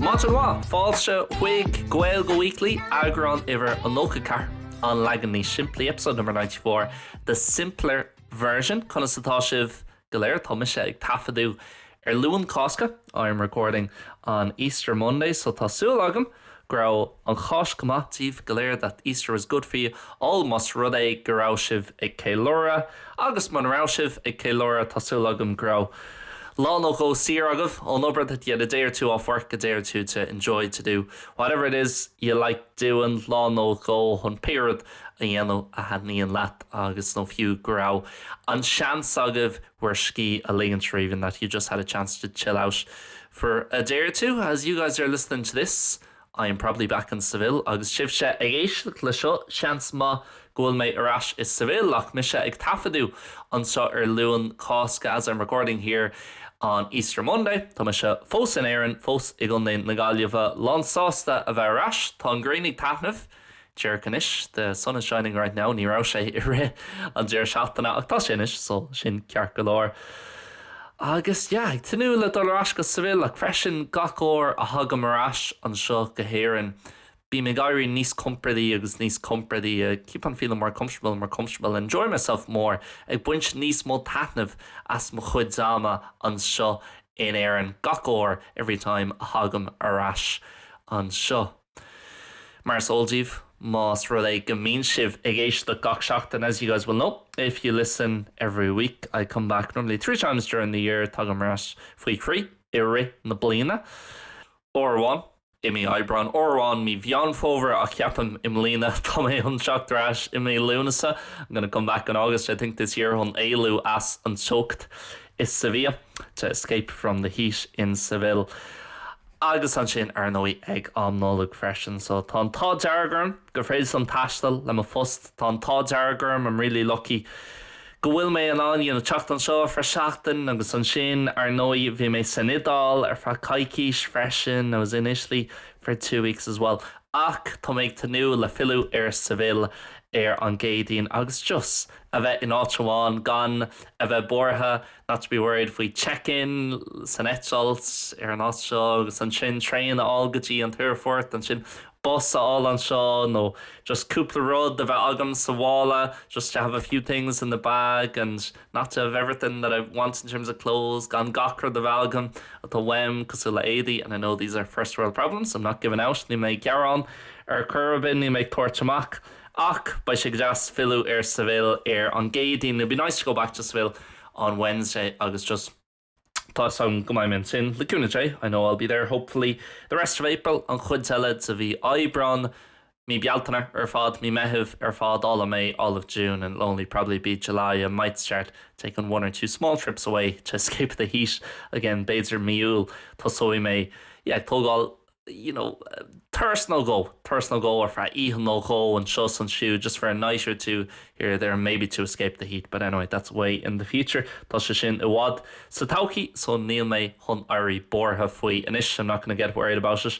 Maidin mhaith! Fáilte chuig Gaeilge Weekly, eagrán uimhir a nócha ceathair, an leagan níos simplí, episode number ninety four, the simpler version. Conas atá sibh? go léir. Tá mise ag taifeadadh ar Luan Cásca, I am recording on Easter Monday, so tá súil agam go raibh an Cháisc go maith daoibh go léir, that Easter was good for you all. Más rud é go raibh sibh ag ceiliúradh, agus mura raibh sibh ag ceiliúradh, tá súil agam go raibh lá nó dhó saor agaibh ón obair, that you had a day or two off work, a day or two to enjoy, to do whatever it is you like doing, lá nó dhó chun pé rud a dhéanamh a thaitníonn leat agus nó fiú go raibh an seans agaibh bhur scíth a ligean, or even that you just had a chance to chill out for a day or two. As you guys are listening to this, I am probably back in Seville agus sibhse ag éisteacht le seo, seans maith go bhfuil mé ar ais i Seville ach mise ag taifeadadh anseo ar Luan Cásca As I'm recording here on Easter Monday, tá mise fós in Éirinn, fós i gContae na Gaillimhe, lán sásta a bheith ar ais. Tá an ghrian ag taitneamh. Díreach anois, the sun is shining right now, ní raibh sé i rith an deireadh seachtaine ach tá sé anois, so sin ceart go leor. Agus yeah, ag tnúth le dul ar ais go Seville ach freisin gach uair a thagaim ar ais anseo go hÉirinn, bím ag éirí níos compordaí agus níos compordaí, I keep on feeling more comfortable and more comfortable and enjoying myself more, ag baint níos mó taitnimh as mo chuid ama anseo in Éirinn gach uair, every time, a thagaim ar ais anseo. Mar is eol daoibh, más rud é go mbíonn sibh ag éisteacht gach seachtain, as you guys will know, if you listen every week, I come back normally three times during the year, tagaim ar ais faoi thrí i rith na bliana, uair amháin i mí Aibreáin, uair amháin mí Mheán Fómhair, ach ceapaim i mbliana tá mé chun teacht ar ais i mí Lúnasa, I'm gonna come back in August I think this year, chun éalú as an teocht i Sevilla, to escape from the heat in Seville. Agus ansin, ar ndóigh, ag am Nollag freisin. So, tá an t-ádh dearg orm gur féidir liom taisteal le mo phost. Tá an t-ádh dearg orm, I'm really lucky, go bhfuil mé in ann, you know, teacht anseo ar feadh seachtain. Agus ansin, ar ndóigh, bhí mé san Iodáil ar feadh coicís freisin, I was in Italy for two weeks as well. Ach, tá mé ag tnúth le filleadh ar Seville ar an gCéadaoin agus just a bheith in áit amháin, gan a bheith buartha. Not to be worried faoi check-in san eitilt as an áit seo agus ansin traein a fháil go dtí an t-aerfort, ansin bus a fháil anseo nó just cúpla rud a bheith agam sa mhála just to have a few things in the bag and not to have everything that I want in terms of clothes gan gach rud a bheith agam atá uaim cosúil le éadaí and I know these are first world problems, I'm not giving out, níl mé ag gearán ar chor ar bith, níl mé ag tabhairt amach. Ach beidh sé go deas filleadh ar Seville ar an gCéadaoin, it'll be nice to go back to Seville on Wednesday agus just tá 'fhios agam go mbeidh mé ansin le cúnamh Dé, I know I'll be there hopefully the rest of April, an chuid eile de mhí Aibreáin, mí Bealtaine ar fad, mí Meithimh ar fad, all of May, all of June and it'll only probably be July I might start taking one or two small trips away to escape the heat again, b'fhéidir mí Iúil tosóidh mé yeah ag tógáil you know, turas nó dhó, turas nó dhó ar feadh oíche nó dhó anseo 's ansiúd, just for a night or two here or there and maybe to escape the heat, but anyway, that's way in the future, tá sé sin i bhfad sa todhchaí, so níl mé chun éirí buartha faoi anois, I'm not going to get worried about it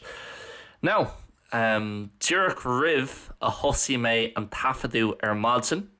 now. Díreach roimh a thosaigh mé an taifeadadh ar maidin,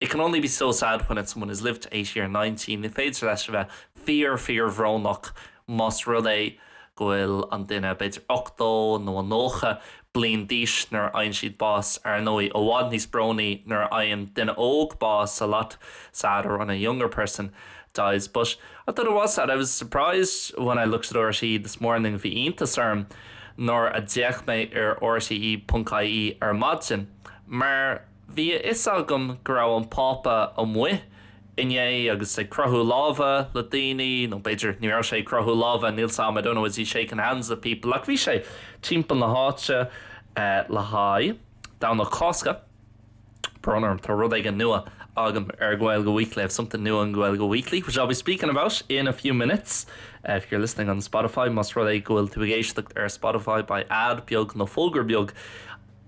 It can only be so sad when it's someone who's lived to eighty or ninety, ní féidir leis a bheith fíor-fíorbhrónach más rud é go bhfuil an duine, b'fhéidir, ochtó nó nócha bliain d'aois nuair a fhaigheann siad bás. Ar ndóigh, i bhfad níos brónaí nuair a fhaigheann duine óg bás, a lot sadder when a younger person dies. But I thought it was sad, I was surprised when I looked at RTÉ this morning, bhí iontas orm nuair a d'fhéach mé ar RTÉ.ie ar maidin, mar, Bhí a fhios agam go raibh an Pápa amuigh inné agus ag croitheadh láimhe le daoine, nó b'fhéidir, ní raibh sé ag croitheadh láimhe, níl 's a'm, I don't know, is he shaking hands with people, ach bhí sé timpeall na háite le haghaidh Domhnach Cásca. Brón orm, tá rud éigin nua agam ar Gaeilge Weekly, I have something new on Gaeilge Weekly, which I'll be speaking about in a few minutes. If you're listening on Spotify, más rud é go bhfuil tú ag éisteacht ar Spotify, beidh ad beag nó fógra beag,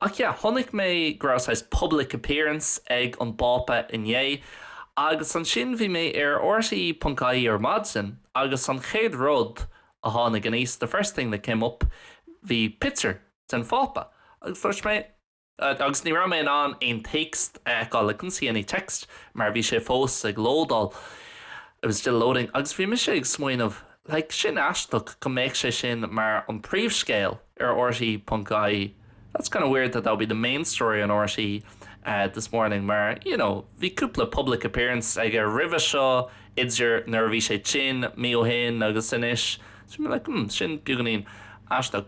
Ach yeah, chonaic mé go raibh saghas public appearance ag an bPápa inné, agus ansin bhí mé ar rte ponc ie ar maidin agus an chéad rud a tháinig aníos, the first thing that came up, bhí picture den Phápa agus just mé, agus ní raibh mé in ann aon téacs a fheiceáil, I couldn't see any text mar bhí sé fós ag lódáil, it was still loading, agus bhí mise ag smaoineamh, Like, sin aisteach go mbeadh sé sin mar an príomhscéal ar rte ponc ie that's kind of weird that that would be the main story on rte this morning mar you know bhí cúpla public appearance aige roimhe seo idir nuair a bhí sé tinn mí ó shin agus anois so I'm like hmm sin beagáinín aisteach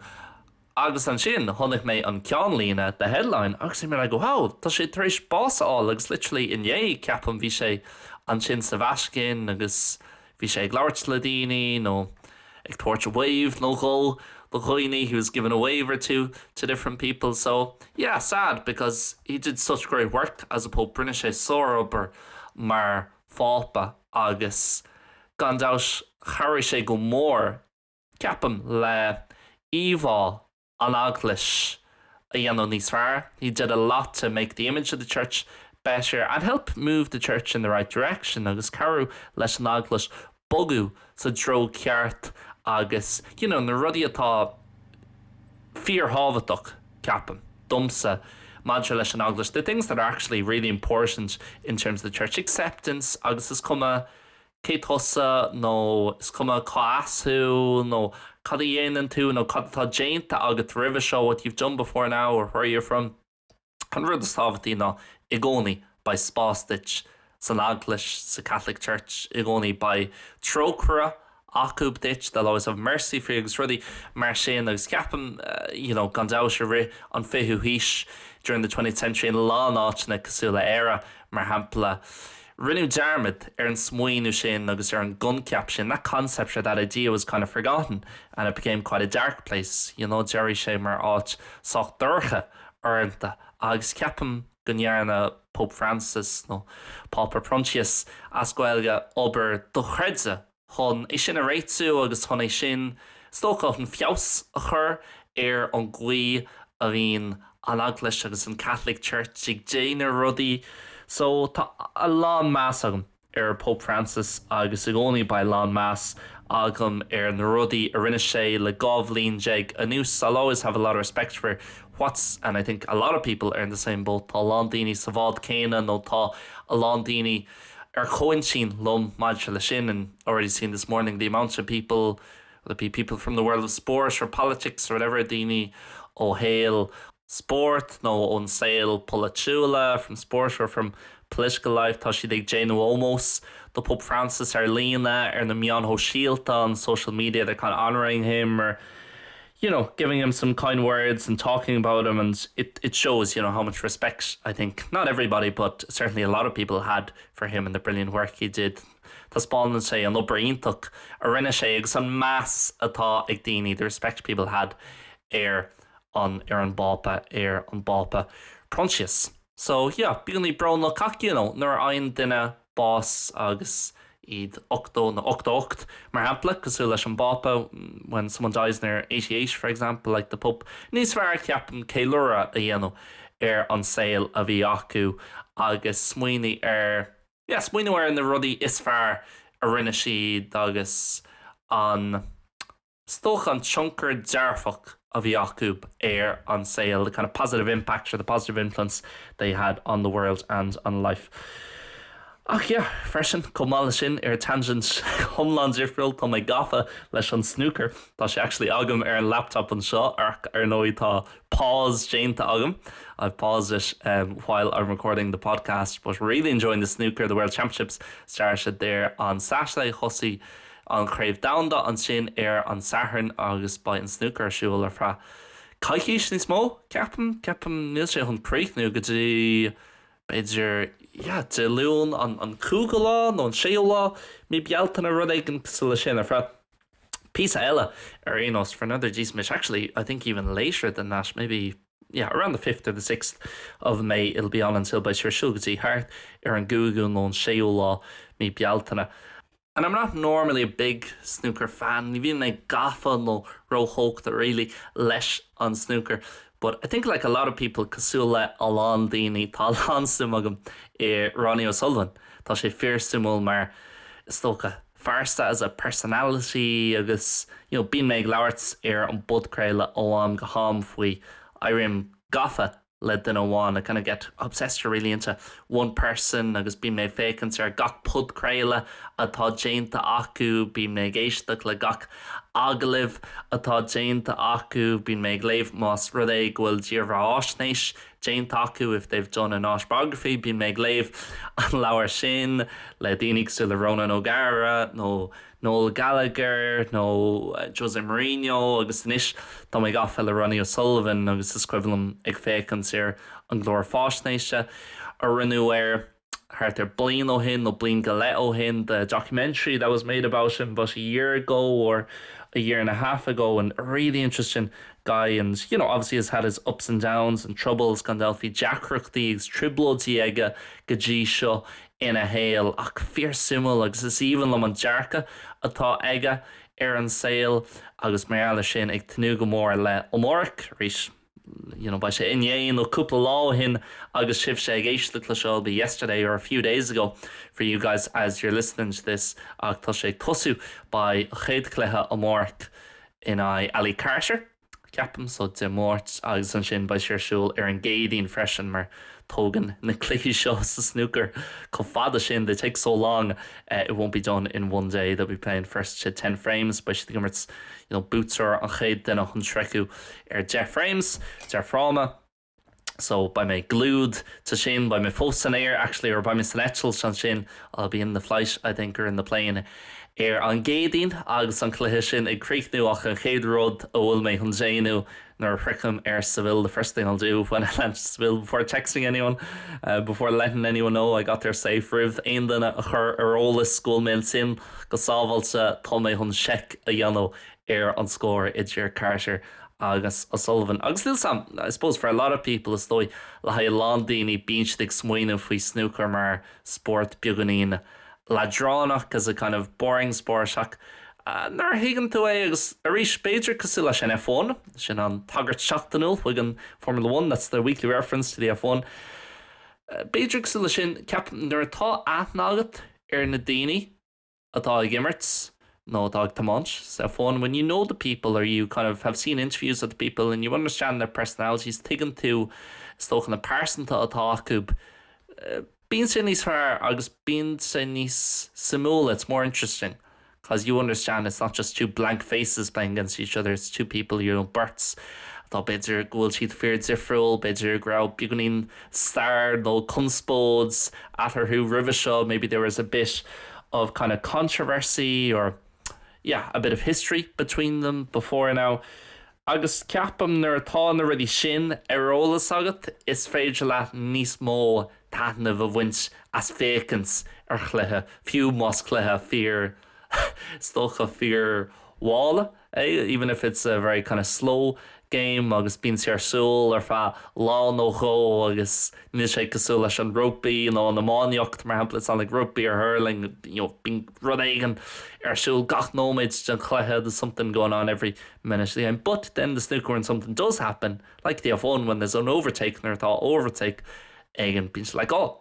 Agus ansin chonaic mé an ceannlíne, the headline, agus I'm like wow, tá sé tar éis bás a fháil agus literally inné, ceapaim, bhí sé ansin sa Vatican agus bhí sé ag labhairt le daoine nó ag tabhairt wave nó dhó do dhaoine, he was giving a wave or two to different people. So yeah, sad because he did such great work as a pope, rinne sé sárobair mar phápa agus gan dabhts chabhraigh sé go mór ceapaim, le íomhá an eaglais a dhéanamh níos fearr, he did a lot to make the image of the church better and help move the church in the right direction agus cabhrú leis an eaglais bogadh sa dtreo ceart agus you know na rudaí atá fíorthábhachtach, ceapaim, domsa maidir leis an eaglais, the things that are actually really important in terms of the church, acceptance agus is cuma cé tusa nó is cuma cá as thú nó cad a dhéanann tú nó cad atá déanta agat roimhe seo what you've done before now or where you're from an rud is tábhachtaí ná i gcónaí beidh spás duit san eaglais sa Catholic Church i gcónaí beidh trócaire acu duit they'll always have mercy for you agus rudaí mar sin agus ceapaim you know gan dabhts i rith an 20ú haois during the twentieth century in a lán áiteanna cosúil le Éire mar shampla Rinneadh dearmad ar an smaoineamh sin agus ar an gcoincheap sin, that concept, or that idea, was kind of forgotten and it became quite a dark place, you know, d'éirigh sé mar áit sách dorcha uaireanta agus ceapaim go ndearna Pope Francis nó Pápa Proinsias, as Gaeilge, obair dochreidte chun é sin a réitiú agus chun é sin, is dócha, chun feabhas a chur ar an gcaoi a bhíonn an Eaglais agus an Catholic Church ag déanamh rudaí. So, tá a lán meas agam ar Pope Francis agus i gcónaí beidh a lán meas agam ar na rudaí a rinne sé le dhá bhliain déag anuas. I'll always have a lot of respect for what's and I think a lot of people are in the same boat, tá a lán daoine sa bhád céanna nó tá a lán daoine, ar comhaintinn liom maidir leis sin, and already seen this morning the amount of people, whether it be people from the world of sport or politics or whatever, daoine ó shaol spóirt nó ón saol polaitiúla, from sport or from political life, tá siad ag déanamh ómós do Pope Francis ar líne, ar na meáin shóisialta, on social media, they're kind of honouring him or. you know giving him some kind words and talking about him and it it shows you know how much respect I think not everybody but certainly a lot of people had for him and the brilliant work he did taispeánann sé an obair iontach a rinne sé agus an meas atá ag daoine the respect people had ar an ar an bpápa ar an bpápa Proinsias so yeah bíonn í brona cac you know nuair a fhaigheann duine bás agus iad 80 nó 88, mar shampla, cosúil leis an bPápa, when someone dies and they are eighty eight, for example, like the Pope, níos fearr, ceapaim, ceiliúradh a dhéanamh ar an saol a bhí acu agus smaoineamh ar, yeah, smaoineamh ar na rudaí is fearr a rinne siad agus an. Is dócha an tionchar dearfach a bhí acu ar an saol, the kind of positive impact or the positive influence they had on the world and on life. Ach yeah, freisin, chomh maith leis sin, ar tangent iomlán difriúil, tá mé gafa leis an snúcar. Tá sé actually agam ar an laptop anseo, ach ar ndóigh tá pause déanta agam, I've paused it while I'm recording the podcast, but really enjoying the snooker, the World Championships started there on Saturday, thosaigh. an Chraobh Domhanda ansin ar an Satharn agus beidh an snúcar ar siúl ar feadh coicís níos mó, ceapaim. Ceapaim, níl sé chun críochnú go dtí b'fhéidir, yeah, Dé Luain an an cúigiú lá nó an séú lá de mhí Bealtaine, rud éigin cosúil le sin, ar feadh píosa eile ar aon nós, for another decent bit, actually I think even later than that, maybe, yeah, around the fifth or the sixth of May it'll be on until beidh sé ar siúl go dtí thart ar an gcúigiú nó an séú lá Mí Bealtaine. And I'm not normally a big snooker fan, ní bhíonn mé gafa nó róthógtha really leis an snúcar, but I think like a lot of people, cosúil le a lán daoine, tá a lán suim agam i Ronnie O'Sullivan. Tá sé fíor-suimiúil mar, is dócha, phearsa, as a personality agus you know bíonn mé ag labhairt ar an bpodchraoladh ó am go ham faoi, éirím gafa le duine amháin, I kind of get obsessed or really into one person agus bíonn mé ag féachaint ar gach podchraoladh atá déanta acu, bíonn mé ag éisteacht le gach agallamh atá déanta acu, bíonn mé ag léamh más rud é go bhfuil dírbheatháisnéis déanta acu, if they've done an autobiography, bíonn mé ag léamh an leabhar sin le daoine cosúil le Ronan O'Gara nó. Noel Gallagher nó Jose Mourinho agus anois tá mé gafa le Ronnie O'Sullivan agus is cuimhin liom ag féachaint ar an gclár fáisnéise a rinneadh air thart ar bliain ó shin nó bliain go leith ó shin, the documentary that was made about him about a year ago or a year and a half ago and really interesting guy and you know obviously has had his ups and downs and troubles gan dabht bhí deacrachtaí agus trioblóidí aige go dtí seo ina shaol ach fíor suimiúil agus is aoibhinn liom an dearcadh atá aige ar an saol agus mar gheall ar sin ag tnúth go mór le amárach arís you know beidh sé inné nó cúpla lá ó shin agus sibhse ag éisteacht le seo it'll be yesterday or a few days ago for you guys as you're listening to this ach tá sé ag tosú beidh an chéad chluiche amárach in aghaidh Ali Carter ceapaim, so Dé Máirt agus ansin beidh sé ar siúl ar an gCéadaoin freisin mar tógann na cluichí seo sa snúcar chomh fada sin, they take so long, it won't be done in one day, they'll be playing first to ten frames, beidh siad ag imirt, you know, buaiteoir an chéad duine chun sroicheadh ar deich frames, deich fráma. So, beidh mé glued dó sin, beidh mé fós san aer, actually, or beidh mé san eitilt ansin, I'll be in the flight, I think, or in the plane, ar an gCéadaoin agus an cluiche sin ag críochnú ach an chéad rud a bhfuil mé chun déanamh nuair a shroichim Seville, the first thing I'll do when I land in Seville, before texting anyone, before letting anyone know I got there safe, roimh aon duine a chur ar eolas go bhfuil mé ansin go sábháilte, tá mé chun seic a dhéanamh ar an scór idir Carter agus O'Sullivan. Agus níl sam, I suppose for a lot of people, is dóigh, le haghaidh a lán daoine, bíonn siad ag smaoineamh faoi snúcar mar spórt beagáinín leadránach as a kind of boring sport ach nuair a thuigeann tú é agus arís, b'fhéidir cosúil leis an F-one, sin an tagairt seachtainiúil chuig an Formula One, that's the weekly reference to the F-one, b'fhéidir cosúil leis sin, ceapaim, nuair atá aithne agat ar na daoine, atá ag imirt nó atá ag tiomáint san F-one when you know the people or you kind of have seen interviews with the people and you understand their personalities tuigeann tú is dócha na pearsantachtaí atá acu bíonn sé níos fearr agus bíonn sé níos suimiúla it's more interesting cause you understand it's not just two blank faces playing against each other it's two people you know beirt atá b'fhéidir go bhfuil siad fíor difriúil b'fhéidir go raibh beagáinín stair nó conspóid eatarthu roimhe seo, maybe there was a bit of kind of controversy or yeah a bit of history between them before now agus ceapaim nuair atá na rudaí sin ar eolas agat is féidir leat níos mó taitneamh a bhaint as féachaint ar chluiche, fiú más cluiche fíor is dócha fíor mhall. even if it's a very kind of slow game agus bíonn sé ar siúl ar feadh lá nó dhó agus níl sé cosúil leis an rugbaí nó an iománaíocht mar shampla it's not like rugby or hurling you know bíonn rud éigin ar siúl gach nóiméad den chluiche there's something going on every minute of the game but then the snooker when something does happen like the F1 when there's an overtake nuair atá overtake éigin bíonn sé like oh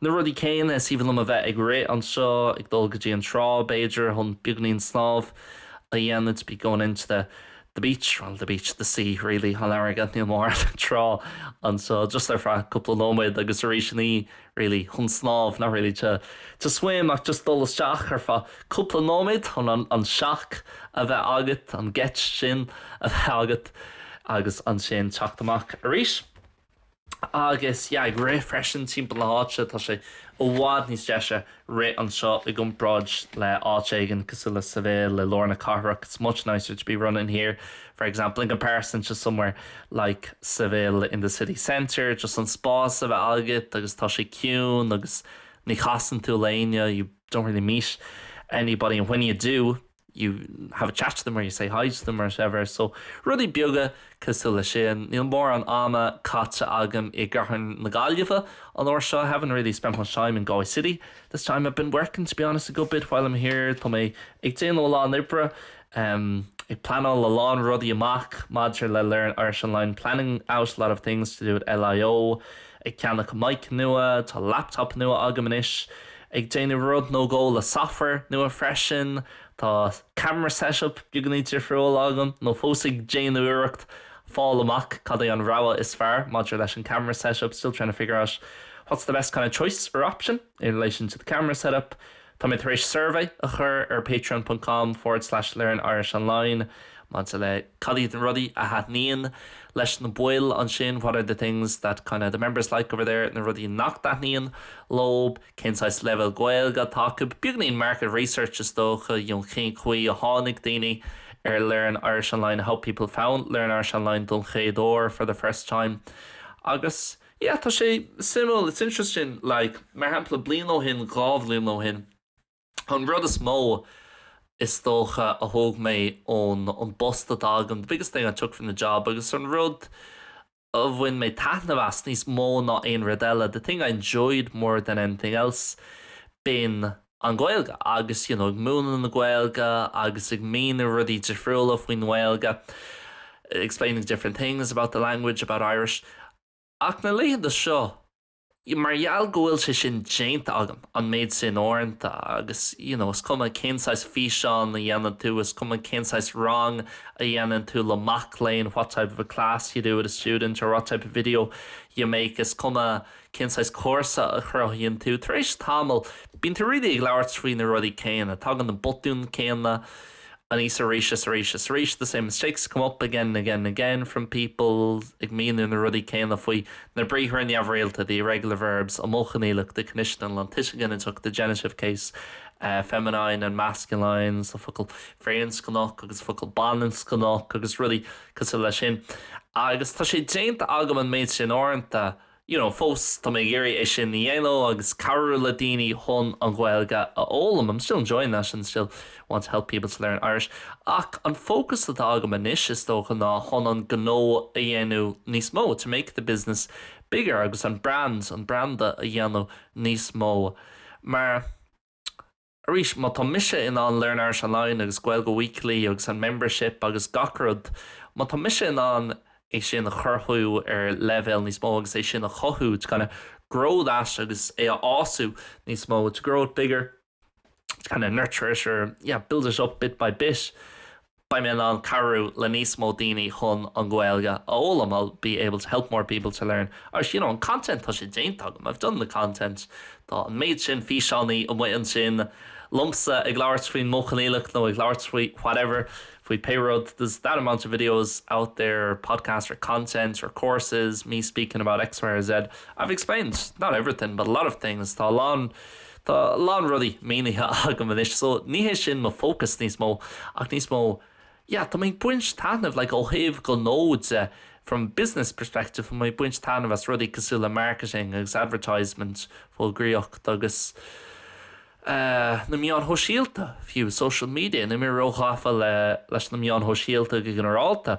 Na rudaí céanna is aoibhinn liom a bheith ag rith anseo, ag dul go dtí an trá, b'fhéidir, chun beagainín snámh a dhéanamh, to be going into the the beach, well, the beach, the sea, really, an fharraige, níl mórán trá anseo, just ar feadh cúpla nóiméad agus arís ní really, chun snámh, not really to to swim ach just dul isteach ar feadh cúpla nóiméad chun an an shock a bheith agat, an gheit sin a bheith agat agus ansin teacht amach arís. Agus yeah, ag rith freisin timpeall na háite, tá sé i bhfad níos deise rith anseo i gcomparáid le áit éigin cosúil le Seville i lár na cathrach, it's much nicer to be running here for example in comparison to somewhere like Seville in the city centre, just an spás a bheith agat agus tá sé ciúin agus ní chasann tú le éinne, you don't really meet anybody and when you do. you have a chat to them or you say hi to them or whatever so rudaí beaga cosúil leis sin. Níl mórán ama caite agam i gcathair na Gaillimhe an uair seo I haven't really spent much time in Galway city this time I've been working to be honest a good bit while I'm here tá mé ag déanamh a lán oibre um ag pleanáil a lán rudaí amach maidir le learn Irish online planning out a lot of things to do with LIO ag ceannach mic nua tá laptop nua agam anois ag déanamh rud nó dhó le software nua freisin, tá camera setup beagáinín difriúil agam nó fós ag déanamh iarracht fáil amach cad é an rogha is fearr maidir leis an camera setup, still trying to figure out what's the best kind of choice or option in relation to the camera setup. Tá mé tar éis survey a chur ar patreon.com forward slash learn irish online Maidir le cad iad na rudaí a thaitníonn leis na baill ansin, what are the things that kinda the members like over there, na rudaí nach dtaitníonn leo, cén saghas leibhéal Gaeilge atá acu, beagáinín market research is dócha, you know, cén chaoi a tháinig daoine ar Learn Irish Online, how people found Learn Irish Online don chéad uair, for the first time. Agus yeah, tá sé suimiúil, it's interesting, like, mar shampla, bliain ó shin, dhá bhliain ó shin, An rud is mó, is dócha, a thóg mé ón bpost atá agam the biggest thing I took from the job agus an rud a bhain mé taitneamh as níos mó ná aon rud eile the thing I enjoyed more than anything else b'in an Ghaeilge agus you know ag múineadh na Gaeilge agus ag míniú rudaí difriúla faoin nGaeilge explaining different things about the language, about Irish ach na laethanta seo, mar gheall go bhfuil sé sin déanta agam, an méid sin uaireanta agus you know is cuma cén saghas físeán a dhéanann tú, is cuma cén saghas rang a dhéanann tú le mac léinn what type of a class you do with a student or what type of video you make is cuma cén saghas cúrsa a chruthaíonn tú, tar éis tamaill bíonn tú really ag labhairt faoi na rudaí céanna, tagann na botúin céanna. aníos arís is arís is arís the same mistakes come up again and again and again from people ag míniú na rudaí céanna faoi na briathra neamhrialta the irregular verbs an modh coinníollach the conditional an tuiseal ginideach the genitive case feminine and masculine so focail firinscneach agus focail baininscneach agus rudaí cosúil leis sin agus tá sé déanta agam an méid sin uaireanta you know fós tá mé ag iarraidh é sin a dhéanamh agus cabhrú le daoine chun an Ghaeilge a fhoghlaim I'm still enjoying that and still want to help people to learn Irish ach an fócas atá agam anois is dócha ná chun an gnó a dhéanamh níos mó to make the business bigger agus an brand an branda a dhéanamh níos mó mar Arís, má tá mise in ann Learn Irish Online agus Gaeilge Weekly agus an Membership agus gach rud, má tá mise in ann é sin a chruthú ar leibhéal níos mó agus é sin a chothú, to kinda grow that agus é a fhás níos mó, to grow it bigger, to kinda nurture it or yeah, build it up bit by bit, Beidh mé in ann cabhrú le níos mó daoine chun an Ghaeilge a fhoghlaim I'll be able to help more people to learn Irish. You know, an content, tá sé déanta agam I've done the content. Tá an méid sin físeánaí amuigh ansin liomsa ag labhairt faoin modh coinníollach nó ag labhairt faoi whatever, faoi pé rud there's that amount of videos out there or podcasts or content or courses, me speaking about X, Y or Z. I've explained, not everything, but a lot of things. Tá a lán. Tá a lán rudaí mínithe agam anois, so ní hé sin mo fócas níos mó, ach níos mó, yeah, tá mé ag baint taitneamh, like, ó thaobh gnó de, from business perspective, tá mé ag baint taitneamh as rudaí cosúil le marketing agus advertisement, fógraíocht, agus eh, na meáin shóisialta, fiú, social media, níl mé ró-ghafa le, leis na meáin shóisialta go ginearálta,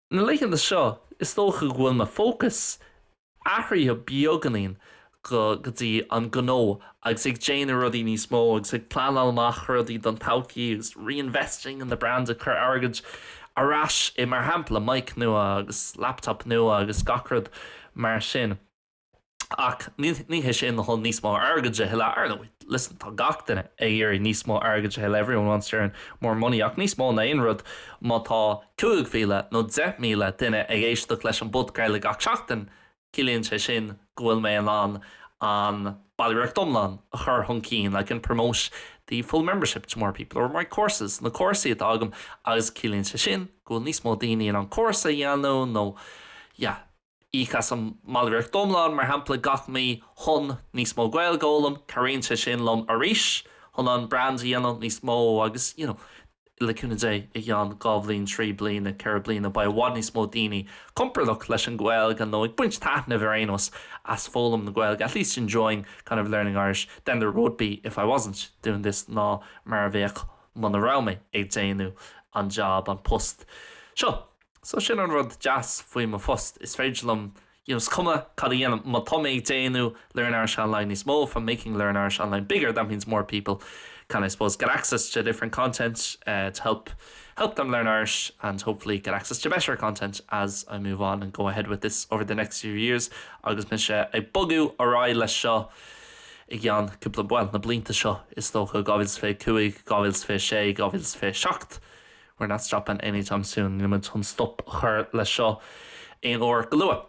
Na laethanta seo, is dócha go bhfuil mo fócas athraithe beagáinín go go dtí an gnó agus ag déanamh rudaí níos mó agus ag pleanáil amach rudaí don todhchaí agus reinvesting in the brand ag cur airgid ar ais i mar shampla mic nua agus laptop nua agus gach rud mar sin. Ach ní hé sin chun níos mó airgid a thuilleadh, or no. Listen, tá gach duine ag iarraidh níos mó airgid a thuilleadh, everyone wants to earn more money, ach níos mó ná aon rud, má tá 5,000 nó 10,000 duine ag éisteacht leis an bpodcraoladh gach seachtain, ciallaíonn sé sin go bhfuil mé in ann an ballraíocht iomlán a chur chun cinn, like I can promote the full membership to more people, or my courses, na cúrsaí atá agam, agus ciallaíonn sé sin go bhfuil níos mó daoine in ann cúrsa a dhéanamh nó yeah. Íoc as an mballraíocht iomlán, mar shampla, gach mí chun níos mó Gaeilge a fhoghlaim, cabhraíonn sé sin liom arís chun an brand a dhéanamh níos mó agus, you know, le cúnamh Dé, i gceann dhá bhliain, trí bliana, ceithre bliana, beidh i bhfad níos mó daoine compordach leis an Gaeilge nó ag baint taitneamh, ar aon nós, as foghlaim na Gaeilge, at least enjoying kind of learning Irish, than there would be if I wasn't doing this ná mar a bheadh muna raibh mé ag déanamh an job, an post, seo. So sin an rud deas faoi mo phost, is féidir liom, you know, is cuma cad a dhéanaim, má tá mé ag déanamh Learn Irish Online níos mó, if I'm making Learn Irish Online bigger, that means more people can, I suppose, get access to different content to help them learn Irish and hopefully get access to better content as I move on and go ahead with this over the next few years agus mise ag bogadh ar aghaidh leis seo i gceann cúpla, bhuel, na blianta seo is dócha, 2025, 2026, 2027. not stopping anytime soon níl muid chun stop a chur leis seo aon uair go luath.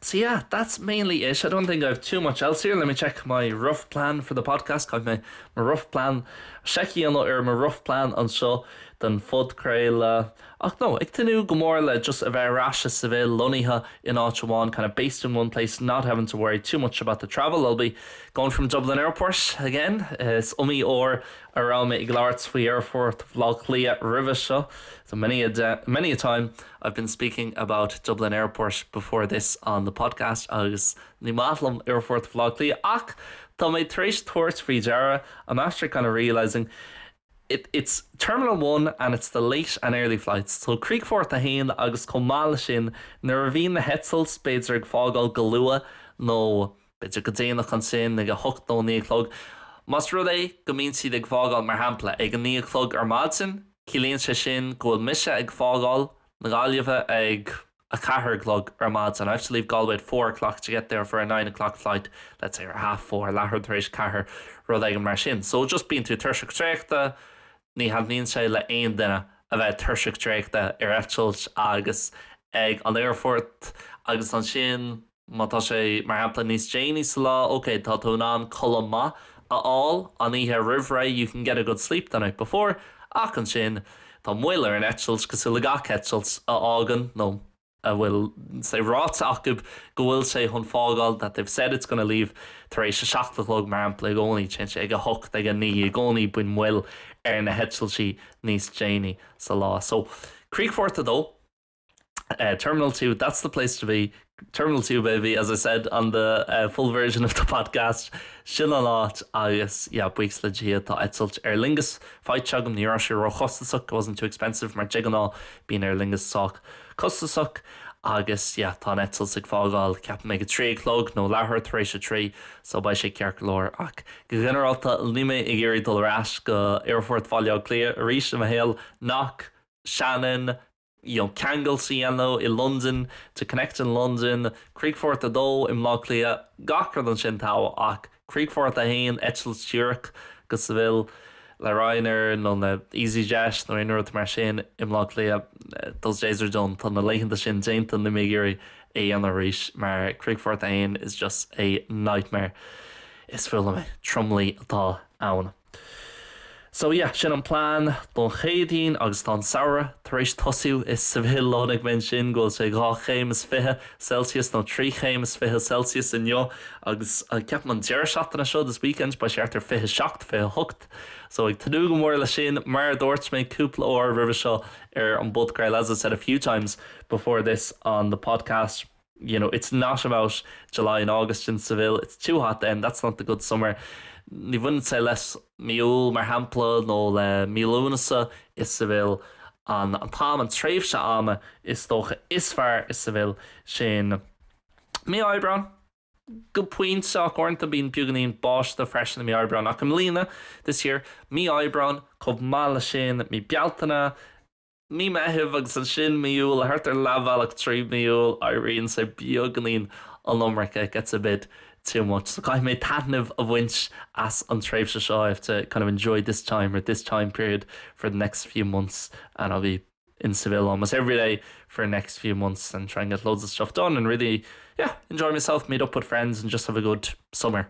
So yeah, that's mainly it. I don't think I've too much else here. Let me check my rough plan for the podcast. Got my rough plan seiceáil ar mo rough plan anseo don phodchraoladh. Ach ag tnúth go mór le just a bheith ar ais is a bheith lonnaithe in áit amháin, kind of based in one place, not having to worry too much about the travel, I'll be going from Dublin Airport again. Is iomaí uair a raibh mé ag labhairt faoi aerfort Bhaile Átha Cliath roimhe seo so many a time I've been speaking about Dublin Airport before this on the podcast agus ní maith liom aerfort Bhaile Átha Cliath ach tá mé tar éis tabhairt faoi deara I'm after kind of realising it's Terminal 1 and it's the late and early flights so Críochfort 1 agus chomh maith leis sin nuair a bhíonn na heitiltí b'fhéidir ag fágáil go luath nó B'fhéidir go déanach ansin, ag a hocht nó a naoi a chlog. Más rud é go mbíonn siad ag fágáil, mar shampla, ag a naoi a chlog ar maidin, ciallaíonn sé sin go bhfuil mise ag fágáil na Gaillimhe ag a ceathair a chlog ar maidin, I have to leave Galway at four o'clock to get there for a nine o'clock flight, let's say, or a half four, leathuair tar éis a ceathair, rud éigin mar sin. So just bíonn tú tuirseach traochta, ní thaitníonn sé le haon duine a bheith tuirseach traochta ar eitilt agus ag an aerfort agus ansin, Má tá sé, mar shampla, níos déanaí sa lá, ok, tá tú in ann codladh maith a fháil an oíche roimh ré, you can get a good sleep the night before, ach ansin, tá moill ar an eitilt, cosúil le gach eitilt a fhágann, nó a bhfuil sé ráite acub go bhfuil sé chun fágáil, that they've said it's gonna leave, tar éis a seacht a chlog, mar shampla, i gcónaí, téann sé ag a hocht, ag a naoi, i gcónaí bíonn moill ar na heitiltí níos déanaí sa lá. So, críochfort a dó. Terminal two, that's the place to be, Terminal two baby, as I said on the full version of the podcast, sin an áit agus yeah, buíochas le Dia tá eitilt Aer Lingus faighte agam, ní raibh sé ró-chostasach, wasn't too expensive, mar de ghnáth bíonn Aer Lingus sách costasach, agus yeah, tá an eitilt ag fágáil, ceapaim ag a trí a chlog nó leathuair tar éis a trí, so beidh sé ceart go leor, ach go ginearálta níl mé ag iarraidh dul ar ais go Aerfort Bhaile Átha Cliath arís i mo shaol, Knock, Shannon, ceangal a dhéanamh i Londain to connect in London, Críochfort 2 i mBleá Cliath, gach rud ansin togha ach Críochfort 1, eitilt díreach go Sevilla le Ryanair nó le Easyjet nó aon rud mar sin i mBleá Cliath, those days are done, tá na laethanta sin déanta, níl mé ag iarraidh é a dhéanamh arís mar Críochfort 1 is just a nightmare. Is fuath liom é. Tromluí atá ann. So yeah, sin an plean don Chéadaoin agus tá an samhradh tar éis tosú. Is i Seville anois, measaim ansin go bhfuil sé dhá chéim is fiche Celsius nó trí chéim is fiche Celsius inniu agus ceapaim an deireadh seachtaine seo, this weekend, beidh sé thart ar fiche seacht, fiche hocht. So ag tnúth go mór leis sin. Mar a dúirt mé cúpla uair roimhe seo ar an bpodchraoladh, as I said a few times before this on the podcast, you know, it's not about July and August in Seville, it's too hot then, that's not the good summer ní bhaineann sé le mí Iúil, mar shampla, nó le mí Lúnasa i Seville, an t-am, an tréimhse ama, is dócha, is fearr i Seville, sin mí Aibreán, go pointe, ach uaireanta bíonn beagáinín báistí freisin i mí Aibreán, ach i mbliana, this year, mí Aibreán, chomh maith leis sin, mí Bealtaine, Mí Meithimh agus ansin mí Iúil, thart ar leathbhealach trí mhí Iúil, éiríonn sé beagainín an iomarca, it gets a bit too much. So caithfidh mé taitneamh a bhaint as an tréimhse seo, I have to kind of enjoy this time or this time period for the next few months and I'll be in Seville almost every day for the next few months and try and get loads of stuff done and really, yeah, enjoy myself, meet up with friends and just have a good summer.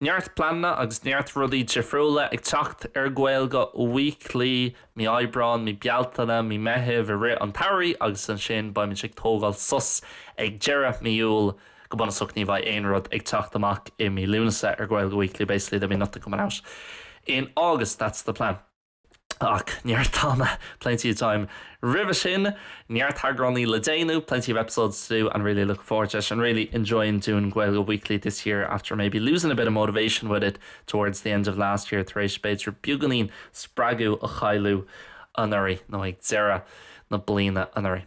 Neart pleananna agus neart rudaí difriúla ag teacht ar Gaeilge Weekly, mí Aibreáin, mí Bealtaine, mí Meithimh i rith an tsamhraidh agus ansin beimid ag tógáil sos ag deireadh mí Iúil go bunúsach ní bheidh aon rud ag teacht amach i mí Lúnasa ar Gaeilge Weekly basically there'll be nothing coming out in August, that's the plan. Ach neart ama, plenty of time, roimhe sin, neart eagránaí le déanamh, plenty of episodes to do, and really looking forward to it, and really enjoying doing Gaeilge Weekly this year after maybe losing a bit of motivation with it towards the end of last year, tar éis b'fhéidir beagáinín spreagadh a chailleadh anuraidh, nó ag deireadh na bliana anuraidh.